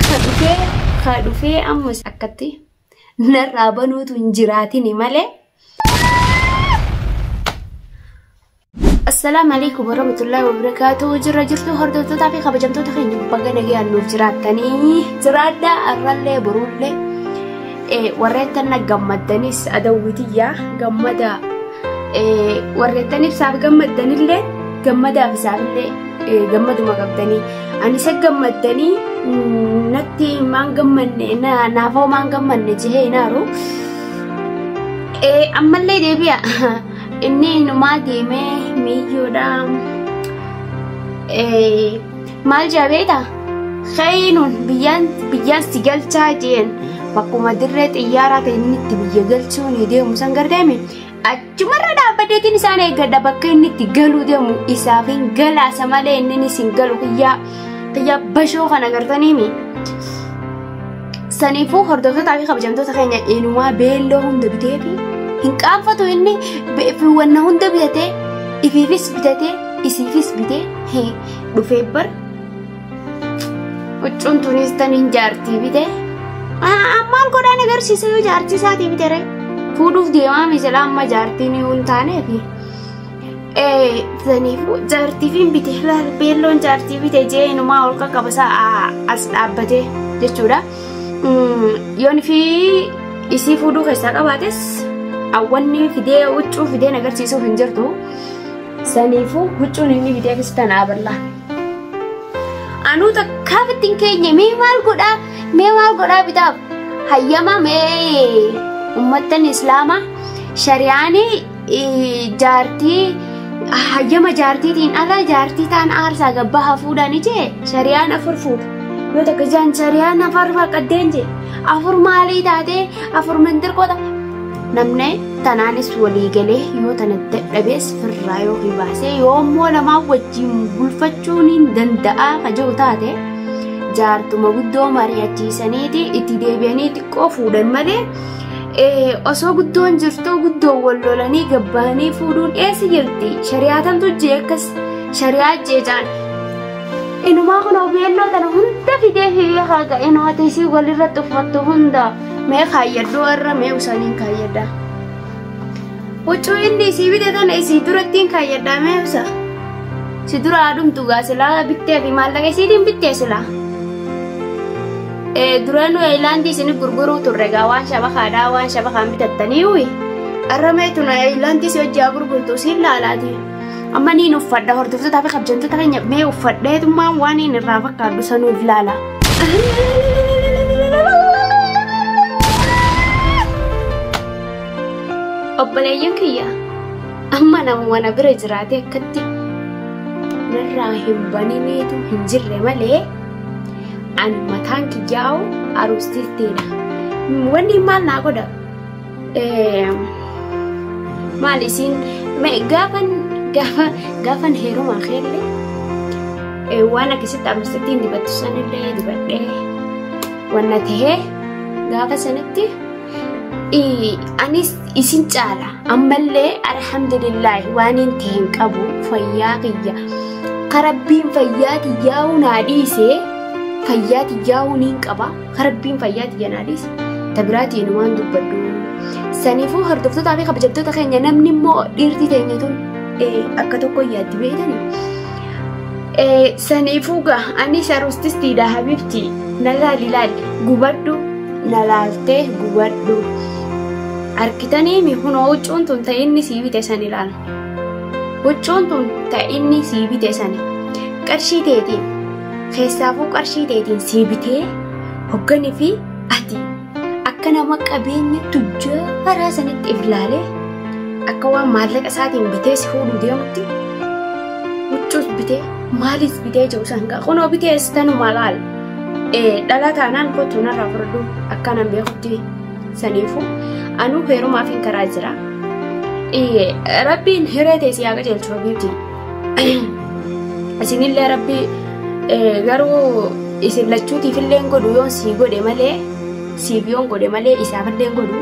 ka dhufee ka dhufee ammas akkatti narraa banuutu hin jiraatini malee. Assalaamu alaikum warahmatullahi wabarakatuh jirra jirtu hordoftootaa fi kabajamtoota keenya baga nagayaan nuuf jiraattanii jiraadha arrallee boruullee warreettan na gammaddanis adawwitiyyaa gammada Warreettan ibsaaf gammaddanillee gammadaaf isaanillee gammaduma qabdanii ani isa gammaddanii natti maan gammanne naafoo maan gammanne jehee hinaaru ammallee deebi'a inni numaa deemee miiyyuudha. Maal jabeeta? Keenuun biyyaan biyyaan si galchaa jeen bakkuma dirree xiyyaaraa ta'e inni itti biyya galchuu ni deemu san gardeeme achumarra dhaabbateetiin isaan eeggadha bakka inni itti galuu deemu isaaf hin galaasa malee inni ni sin galu kiyyaa kiyyaa bashoo kana gartaniimi. Saniifuu hordoftootaa fi kabajamtoota keenya eenyumaa beelloo hunda bitee fi hin qaanfatu inni beefiiwwan hunda bitatee ifiifis bitatee isiifis bitee dhufee bar huccuun tunis tan hin jaartii bite ammaan godhaan agarsiisa yoo jaartii isaatii bite ree fuudhuuf deemaa misilaa amma jaartiin yoo hin taaneef saniifuu jaartii fi bite beelloon jaartii bite jee inumaa ol qaqqabasaa as dhaabbate jechuudha yoon fi isii fuudhuu keessaa qabaates awwanni fidee huccuu fideen agarsiisuuf hin jirtu. Saniifuu huccuun inni bitee keessa tana abarlaa. Anuu takkaa bittiin keenya mee maal godhaa mee maal godhaa bitaaf hayyama mee ummattan islaamaa shari'aan jaartii hayyama jaartiitiin ala jaartii taan aarsaa gabbaa hafuudhaan ijee shari'aan afur fuudha. Yoo takka jaan shari'aan afur faqqaddeen jee afur maalii taatee afur mintirqota namni tanaanis walii galee yoo tana dadhabees firraa yoo hibaasee yoo immoo namaa wajjin bulfachuun hin danda'a ka jiru taate jaartuma guddoo mari'achiisaniiti itti deebi'anii xiqqoo fuudhan malee eh, osoo guddoon jirtuu guddoo wal lolanii gabbaanii fuudhuun eessa jirti shari'aatantu jee akkas shari'aa jeecaan inumaa kun obeelloo tana hunda fidee fi haqa inootiisii walirratti uffattu hunda Mee kaayyadhu warra mee usaniin kaayyadha. Huccuu inni isii bite tana isii durattiin kaayyadha mee usa. Si dura haadhumtu gaa silaa bittee fi maallaqa isiitiin bittee silaa. Duraan Eeyilaandii isin gurguruu turre gaa waan shabakaadhaa waan shabakaan bitattanii uyi. Arra mee tuna Eeyilaandii si hojjaa gurgurtu siin laalaati. Amma niin uffadha hordoftoota fi kabjamtoota keenya mee uffadheetummaan waan inni irraa fakkaatu sanuuf laala. Obboleeyyan kiyya amma nama wana bira jiraatee akkatti narraa hin baniniitu hin jirre malee ani mataan kiyyaa'u aruustiittiidha. Wanni maal naa godha? maal isin gaafan gaafa gaafan heerumaa keellee waan akkasitti ammasittiin dibattu sanillee dibadhee wanna tahee gaafa sanitti anis isin caala ammallee alhamdulillaahi waan hin ta'e hin qabu fayyaa kiyya karabbiin fayyaa kiyyaa'uu naa dhiisee fayyaa kiyyaa'uu niin qaba. Ka rabbiin fayyaa tiyya naa dhiise. Ta biraatii inni waan dubbadhu. Saniifuu hordoftootaa fi kabajamtoota keenya namni immoo dhiirti teenya tun eh, akka tokko yaaddi beekani. Eh, Saniifuu gaa ani sharustistiidha habibti na laali laali gubadhu na laaltee gubadhu. Arkitanii mi kunoo huccuun tun ta inni sii bite san ilaala. Huccuun tun ta inni sii bite sani. Qarshii teetiin Keessaafuu qarshii teetiin sii bitee hogganii fi ati akka nama qabeenya tujjaaraa sanitti if ilaalee akka waan maallaqa isaatiin bitee si fuudhuu deemutti huccuus bitee maaliis bitee jiru san gaa kunoo bitee istanuma laal dhala taanaan kottu narraa furduu akkanan beekutti saniifu anuu heerumaaf hin karaa jira rabbiin hiree teessee haa qajeelchu rabbiitiin. isinillee rabbi garuu isin lachuutiif illee godhu yoon sii godhe malee siif yoon godhe malee isaaf illee godhu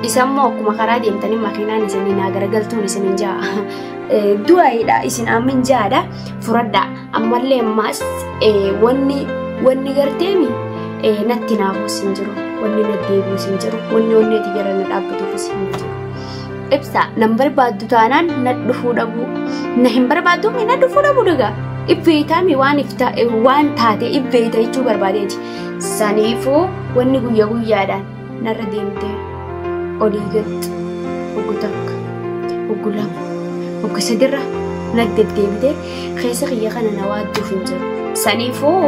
isammoo akkuma karaa deemtanii makiinaan isinii naa garagaltuun isin hin ja'a du'aayidha isin amma hin ja'adha furadha ammallee ammaas wanni wanni garteemi natti naafuus hin jiru wanni naddeebius hin jiru wanni wanni ati jala na dhaabbatuufis hin jiru. ibsa nan barbaaddu taanaan na dhufuu dhabuu na hin barbaaddu na dhufuu dhabuu dagaa ibbeeytaami waan ifta waan taate ibbeeyta jechuu barbaadeeti saniifuu wanni guyya guyyaadhaan narra deemtee olii galti oggu takka oggu lama oggu sadirra na deddeebitee keessa kiyya kana na waadduuf hin jiru saniifuu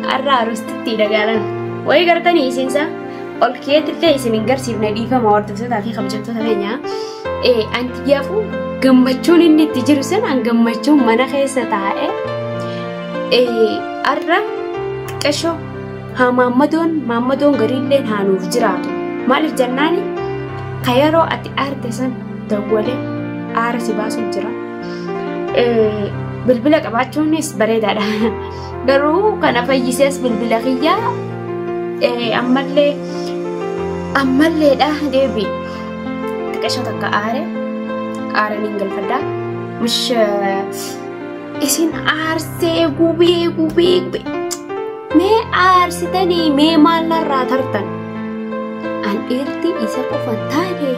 har'a aroostitti dagaalan wayii gartanii isiinsaa. ol keetti illee isin hin garsiifne dhiifama hordoftootaa fi kabajamtoota keenya. Eh, Anti yaafuu gammachuun inni itti jiru sun an gammachuun mana keessa taa'e. Eh, Har'a xiqqashoo haa maammadoon maammadoon gariillee haanuuf jiraatu. Maaliif jennaani ka yeroo ati aarte san dawwalee aara si baasuuf jira. Eh, Bilbila qabaachuunis bareedaadha. Garuu kana fayyisees bilbila kiyya ammallee ammalleedha deebi xiqqasha takka aare aare niin galfadha mish isin aarsee gubee gubee gubee mee aarsitanii mee maallarraa tartan an dhiirti isa qofa taate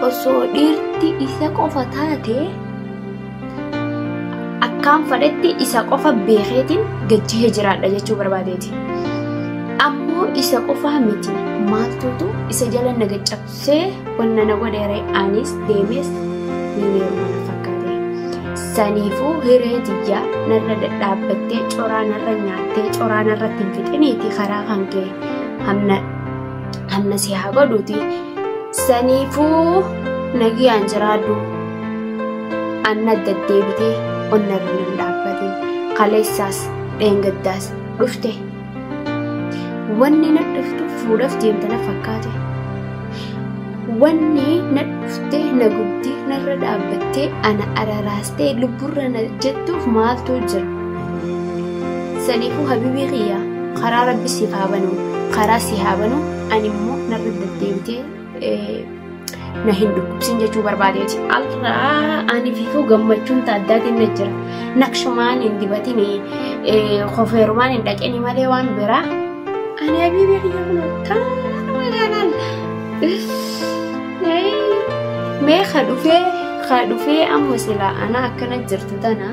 osoo dhiirti isa qofa taate akkaan fadhetti isa qofa beekeetiin gajjihee jiraadha jechuu barbaadeeti. Ammoo isa qofaa miti maaltuutu isa jala na gaccabsee wanna na godheere anis deemees miineeruma na fakkaate. Saniifuu hiree tiyyaa narra dadhaabbattee coraa narra nyaattee coraa narratti hin fixiniiti karaa kan kee hamna si haa godhuuti. Saniifuu nagiyaan jiraadhu. Anna deddeebitee onna irra nan dhaabbate. Kaleessaas dheengaddaas dhufte. Wanni na dhuftu fuudhaf deemte na fakkaate. Wanni na dhufte na gubdee narra dhaabbattee ana araraastee lubburra na jettuuf maaltu jira? Saniifuu habibii kiyya karaa rabbi siif haa banu karaa si haa banu Ani immoo narra deddeebitee na hin dhukkubsin jechuu barbaadeeti. Alraa ani fiifuu gammachuun taaddaatiin na jira. Naqshumaan hin dibatini, kofeerumaan hin dhaqini malee waan biraa. Ani habiibii kiyya kun akkaan magaalaan. Mee ka dhufee ka dhufee amma silaa ana akkana jirtu tana.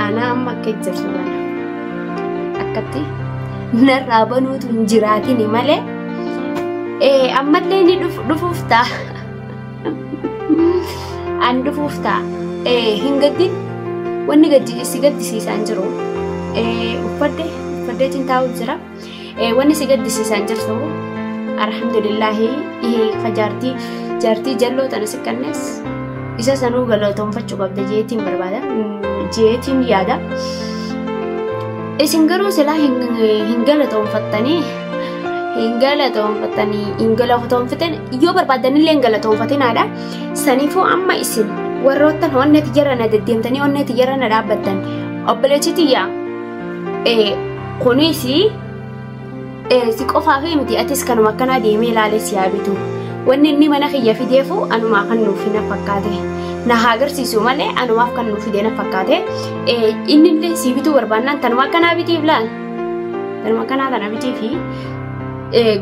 Anaa amma akka ijjarsu bana. Akkatti narraa banuutu hin jiraatini malee ee ammallee ni dhuf- dhufuuf ta'a. An dhufuuf ta'a. Ee hin gaddin wanni gaddi si gaddisiisaan jiru. Ee uffadde uffaddeetiin taa'uuf jira. Wanni si gaddisiisaan jirtu alhamdulillaahi jaartii jaartii jalloo tana si kannes isa sanuu galatoomfachuu qabda jeetiin barbaada jeetiin yaada. Isin garuu silaa hin galatoomfattanii hin galatoomfattanii hin galatoomfatan yoo barbaadanillee hin galatoomfatinaadha. Saniifuu amma isin warroottan onnee tiyyaarra na deddeemtanii onnee tiyyaarra na dhaabbattan obboleechi tiyyaa. Kunis si qofaaf miti atis kanuma akkanaa deemee ilaalee si haa bitu. Wanni inni mana kiyya fideefu anumaa kan nuuf na fakkaate. Na haa agarsiisu malee anumaaf kan nuuf fidee na fakkaate. Inni illee si bituu barbaannaan tanuma akkanaa bitiif laal. Tanuma akkanaa tana bitiifi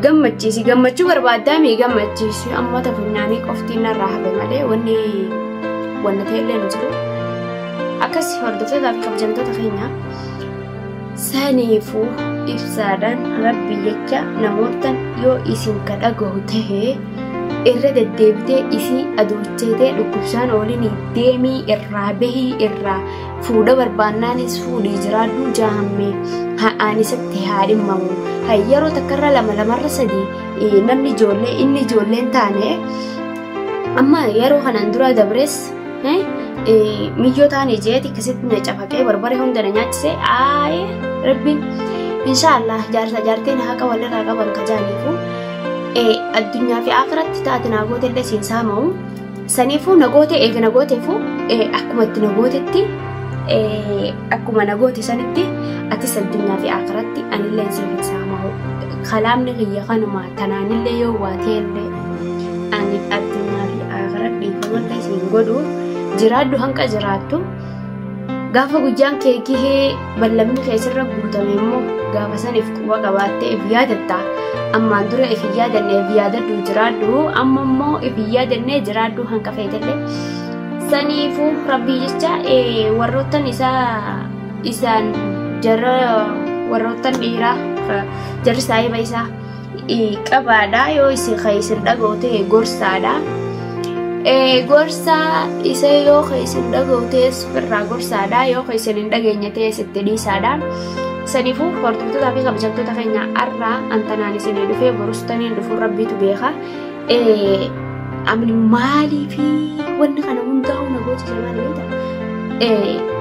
gammachiisi. Gammachuu barbaaddaa mii gammachiisi. Amma tafunyaanii qofti narraa hafe malee wanni wanna ta'e illee hin jiru. Akkas hordoftootaafi kabajamtoota keenya saniifuu ibsaadhaan rabbi jecha namoota yoo isin ka dhagahu tahe irra deddeebitee isii adoochatee dhukkubsaan oolinii deemii irraa bahii irraa fuudha barbaannaanis fuudhii jiraadhuu jaahammee ha'aan isatti haa dhimmamu hayyaroo takkarra lama lamarra sadii namni ijoollee inni ijoolleen taane amma yeroo kanaan dura dabrees miyyoo taane jeeti akkasitti na cafaqee barbare hunda na nyaachise aayee rabbi inshaallah jaarsa jaartee na haqa walirraa qaban ka jaaniifu addunyaa fi akiratti taate naa goote illee siin saama'u saniifuu na goote eega na gooteefu akkuma itti na gootetti akkuma na goote sanitti atis addunyaa fi akiratti anillee siin saama'u kalaamni kiyya kanuma tanaanillee yoo waatee illee ani addunyaa fi akhiraa dhiifama illee siin godhu jiraadhu hanga jiraattu gaafa guyyaan kee gahee ballamni kee sirra guutame immoo gaafa saniif quba qabaattee if yaadatta ammaan dura if hin yaadanne if yaadadhu jiraadhu amma immoo if hin yaadanne jiraadhu hanga feetellee saniifuu rabbii jecha eh, warroottan isaa isaan jarra warroottan dhiiraa eh, jarri saahiba isaa qabaadha yoo isin kan isin dhaga'u ta'e gorsaadha. Gorsa isa yoo kan isin dhaga'u ta'e irraa gorsaadha yoo kan isin hin dhageenye ta'e itti dhiisaadha. Saniifuu hordoftoota fi kabajamtoota keenya har'aa antanaan isin dhufee borustaniin dhufuun rabbiitu beeka. Amni maalii fi wanni kana hundaa humna gooti jedhamaa ni beektaa?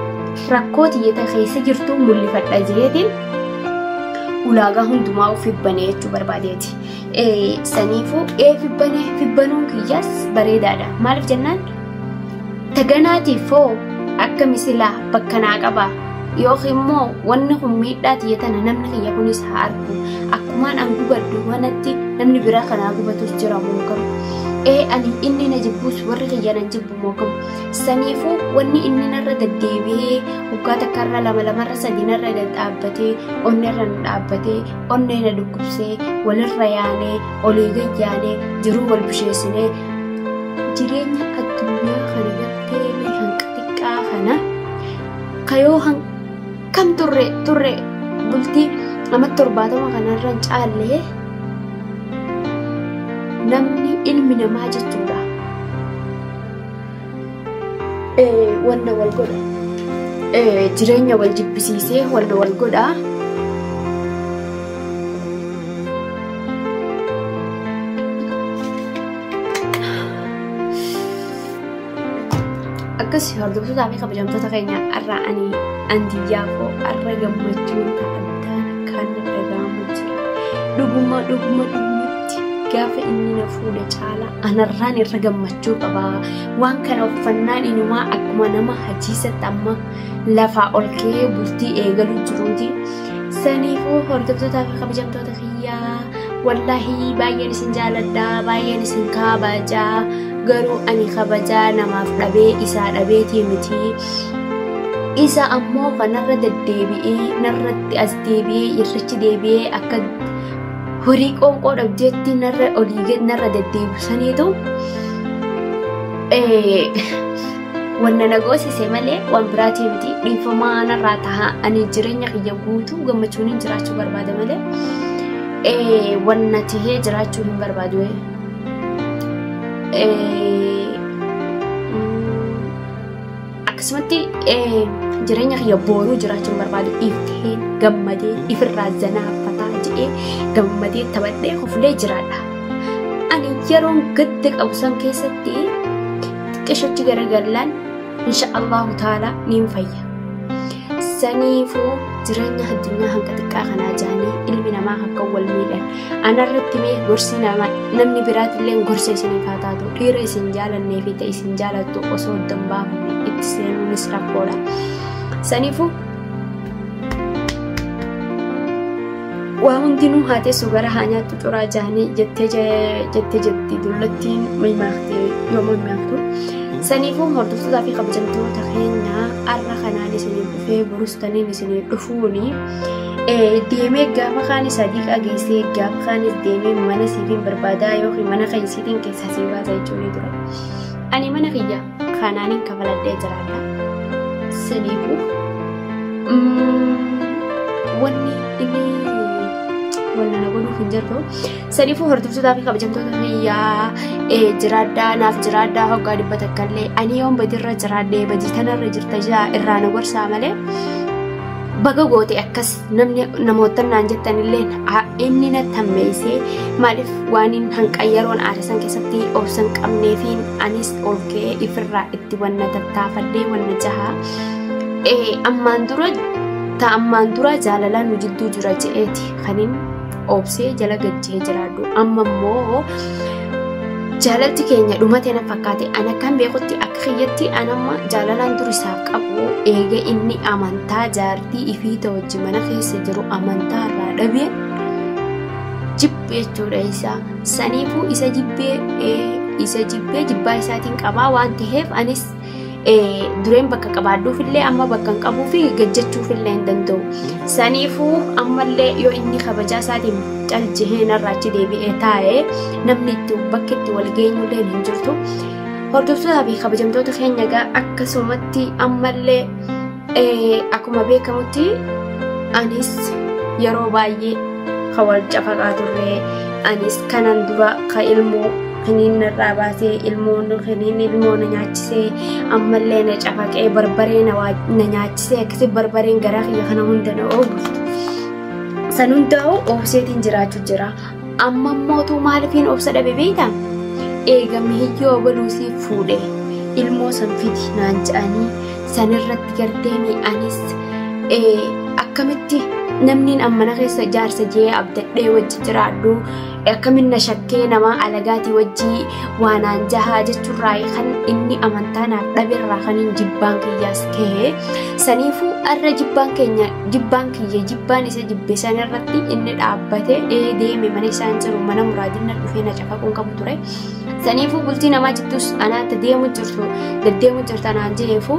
Rakkoo xiyyeeta keessa jirtu mul'ifadha jeetiin ulaagaa hundumaa of hibbane jechuu barbaadeeti. Saniifuu ee fibbane fibbanuun kiyyaas bareedaadha. Maaliif jennaan taganaatiif hoo akka misilaa bakka naa qaba yookiin immoo wanni kun miidhaa tiyya tana namni kiyya kunis haa argu akkumaan an gubadhu kanatti namni biraa kanaa gubatus jira moo garuu ee ani inni na jibbuus warri kiyya nan jibbu Saniifuu wanni inni narra deddeebi'ee waggaa takkarra lama lamarra sadii narra dhadhaabbatee onneerra na dhaabbatee onnee na dhukkubsee walirra yaanee olii gad yaanee jiruu wal busheessinee jireenya addunyaa kana irratti hanqa xiqqaa kana kayoo Kan turre turre bultii amma torbaatama kanarra hin caalle namni ilmi namaa jechuudha. Eh, Wanna wal godha. Eh, Jireenya wal jibbisiisee wanna wal godha. akkas hordoftoota fi kabajamtoota keenya har'aa ani andiyyaa koo har'a gammachuun addaa kan dhaga'amu jira dhuguma dhuguma dhugumatti gaafa inni na fuudhe caalaa anarraan irra gammachuu qaba waan kana uffannaan inumaa akkuma nama hajiisatti amma lafaa ol ka'ee bultii eegaluu jiruuti saniifuu hordoftoota fi kabajamtoota biyyaa wallaahi baay'een isin jaaladha baay'een isin kabaja garuu ani kabaja namaaf dhabee isaa dhabeetii miti isa ammoo kanarra deddeebi'ee narratti as deebi'ee irrichi deebi'ee akka horii qoonqoo dhabjeetti narra olii gad narra deddeebisaniitu Wanna na goosise malee waan biraatii miti dhiifamaa narraa tahaa ani jireenya kiyya guutuu gammachuun hin jiraachuu barbaada malee eh, wanna tahee jiraachuu hin barbaadu. eh. Eh, mm, akkasumatti eh, jireenya kiyya booruu jiraachuu hin barbaadu dhiiftee gammadee ifirraa zanaafataa jedhee gammadee taphadhee kofulee jiraadha. Ani yeroon gadda qabu san keessatti xiqqishatti garagallaan insha Allahu taala niin fayya. Saniifuu jireenya addunyaa hanga xiqqaa kanaa jaanii ilmi namaa akka wal miidhan anarratti mee gorsi nama namni biraatillee gorsa isiniif haa taatu dhiira isin jaalannee fi ta'e isin jaalattu osoo hin baafanne itti seenuunis rakkoodha. Saniifuu waa hundinuu haa teessu gara haa nyaattu curaa jaanii jettee jettee jetti dullattiin mimaakte yoo mimaaktu. Saniifuu hordoftootaa fi kabajamtoota keenya har'a kanaan isiniif dhufee burus taniin isiniif dhufuuni deemee gaafa kaan sadiiqaa geessee gaafa kaanis deemee mana siifiin barbaadaa yookiin mana keessaatiin keessaa sii baasa jechuun ture. Ani mana kiyya Kanaan hin kafaladhee jiraadha. Saniifu wanni inni wanna na godhuuf hin jirtu. Saniifu hordoftootaa fi kabajamtoota biyyaa jiraadhaa naaf jiraadhaa hoggaa dhibba takkallee ani yoon badirra jiraadhee badii tanarra jirta jaa irraa na gorsaa malee baga goote akkas namni namoota naan jettan illee inni na tammeessee maaliif waan hin hanqayyaroon aarisan keessatti obsan qabneefiin anis olkee ifirraa itti wanna tattaafadhee wanna jaha ammaan dura ta ammaan dura jaalalaa nu jidduu jira je'eeti kanin obsee jala galchee jiraadhu amma immoo jaalalti keenya dhumatee na fakkaate ana kan beekutti akka kiyyatti anamma jaalalaan durisaaf qabu eega inni amantaa jaartii ifii ta'u wajji mana keessa jiru amantaa irraa dhabee jibbe jechuudha isaa saniifuu isa jibbee isa jibbee jibbaa isaatiin qabaa waan ta'eef anis dureen bakka qabaadduuf illee amma bakka hin qabuu fi gajjachuuf illee hin danda'u. Saniifuu ammallee yoo inni kabajaa isaatiin calcihee narraa achi deebi'ee taa'ee namni itti bakki itti wal geenyu illee hin jirtu. Hordoftootaa fi kabajamtoota keenya egaa akkasumatti ammallee Akkuma beekamutti anis yeroo baay'ee kan wal cafaqaa turre anis kanan dura kan ilmoo kaniin narraa baatee ilmoon kaniin ilmoo na nyaachisee ammallee na cafaqee barbaree na nyaachisee akkasi barbareen garaa kiyya kana hunda na oogu. San hundaa'u obseetiin jiraachuu jira. Amma mootuu maalifiin obsa dhabe beektaa? Eega mihiyyoo abaluu siif fuudhe ilmoo san fidi naan jedhanii sanirratti garteeni anis akkamitti namniin ammana keessa jaarsa jee abdadhee wajji jiraadhu akkamin na shakkee namaa alagaatii wajjii waanaan jahaa jechuurraa kan inni amantaa naaf dhaberraa kan hin jibbaan kiyyaas ka'e saniifuu arra jibbaan keenya jibbaan kiyya jibbaan isa jibbe sana irratti inni dhaabbate ee deeme mana isaan jiru mana muraadinna dhufee na cafaquun qabu ture saniifuu bultii namaa jittus anaatti deemu jirtu deddeemu jirta naan jeefu